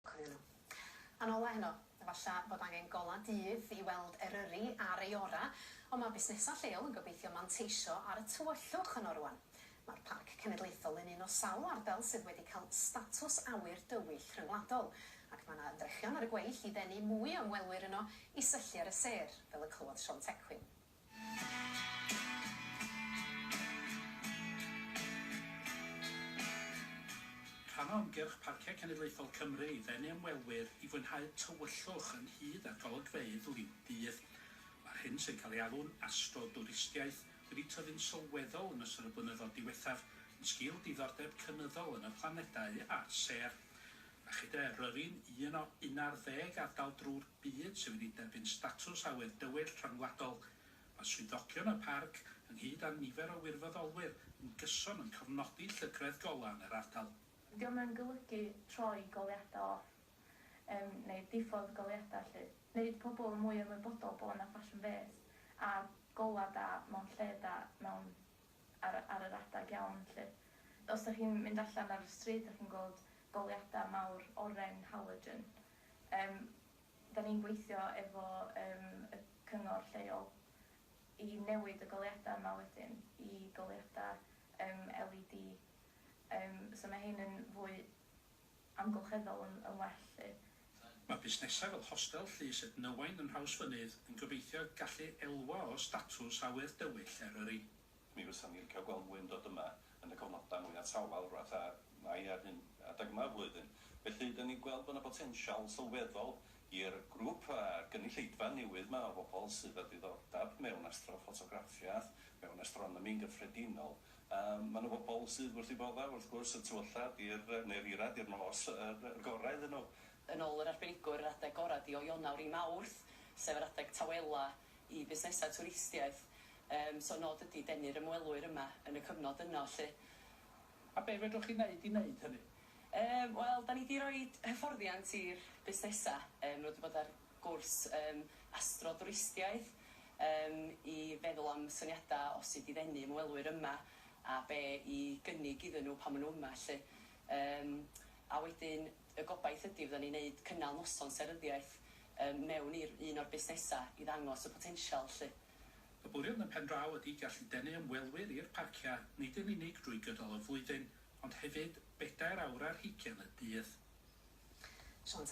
Coelio. A'n ola heno. Efalla bod angen gola dydd i weld Eryri ar ei ora, ond mae busnesau lleol yn gobeithio manteisio ar y tywyllwch yno rŵan. Mae'r Parc Cenedlaethol yn un o sawl ardal sydd wedi cael statws awyr dywyll rhyngwladol, ac mae 'na ymdrechion ar y gweill i ddenu mwy o ymwelwyr yno i syllu ar y sêr, fel y clywodd Siôn Tecwyn. Rhan o ymgyrch Parciau Cenedlaethol Cymru i ddenu ymwelwyr i fwynhau tywyllwch ynghyd â'r golygfeydd liw'r dydd. Mae'r hyn sy'n cael ei alw'n astrodwristiaeth wedi tyfu'n sylweddol yn ystod y blynyddoedd diwethaf yn sgil diddordeb cynyddol yn y planedau a'r sêr. A chyda Eryri'n un o unarddeg ardal drw'r byd sydd wedi derbyn statws awyr dywyll rhyngwladol. Mae swyddogion y parc, ynghyd â nifer o wirfoddolwyr, yn gyson yn cofnodi llygredd golau yn yr ardal. Dydi o'm yn golygu troi goleuadau off, yym, neu diffodd goleuadau, felly. Neud pobl yn mwy ymwybodol bo' 'na ffasiwn fês, a golau da mewn lle da, mewn... ar y... ar yr adeg iawn, felly. Os 'dach chi'n mynd allan ar y stryd a chi'n gweld goleuadau mawr oren, halogen, Yym, dan ni'n gweithio efo yym y cyngor lleol i newid y goleuadau yma wedyn i goleuadau yym LED yym so mae hein yn fwy amgylcheddol yn yn well 'lly. Mae busnesau fel Hostel Llys Ednywain yn Nhrawsfynydd yn gobeithio gallu elwa o statws awyr dywyll Eryri. Mi fysan ni'n licio gweld mwy yn dod yma yn y cyfnodau mwya' tawel, fatha Mai a'r hyn adeg yma o'r flwyddyn. Felly, 'dan ni'n gweld bo' 'na botensial sylweddol i'r grŵp a gynulleidfa newydd 'ma o bobl sydd â diddordab mewn astroffotograffiaeth, mewn astronomi yn gyffredinol. Yym, ma' 'na bobl sydd wrth 'u bodda', wrth gwrs, y tu allan i'r, neu'r eira', i'r nos, yr y gorau iddyn nhw. Yn ôl yr arbenigwr, yr adeg gorau 'di o Ionawr i Mawrth, sef yr adeg tawela' i fusnesau twristiaeth. Yym, so nod ydi denu'r ymwelwyr yma yn y cyfnod yno 'lly. A be' fedrwch chi neud i neud hynny? Yym, wel, 'da ni 'di roid hyfforddiant i'r busnesa'. Yym, nw 'di bod ar gwrs yym astro dwristiaeth yym i feddwl am syniada' o sud i ddenu ymwelwyr yma a be' i gynnig iddyn nw pan ma' nw yma 'lly. Yym, a wedyn y gobaith ydi fyddan ni'n neud cynnal noson seryddiaeth yym mewn i'r un o'r busnesa' i ddangos y potensial 'lly. Y bwriad yn pen draw ydy gallu denu ymwelwyr i'r parciau nid yn unig drwy gydol y flwyddyn ond hefyd bedair awr ar hugain y dydd. Siôn Tafwyl.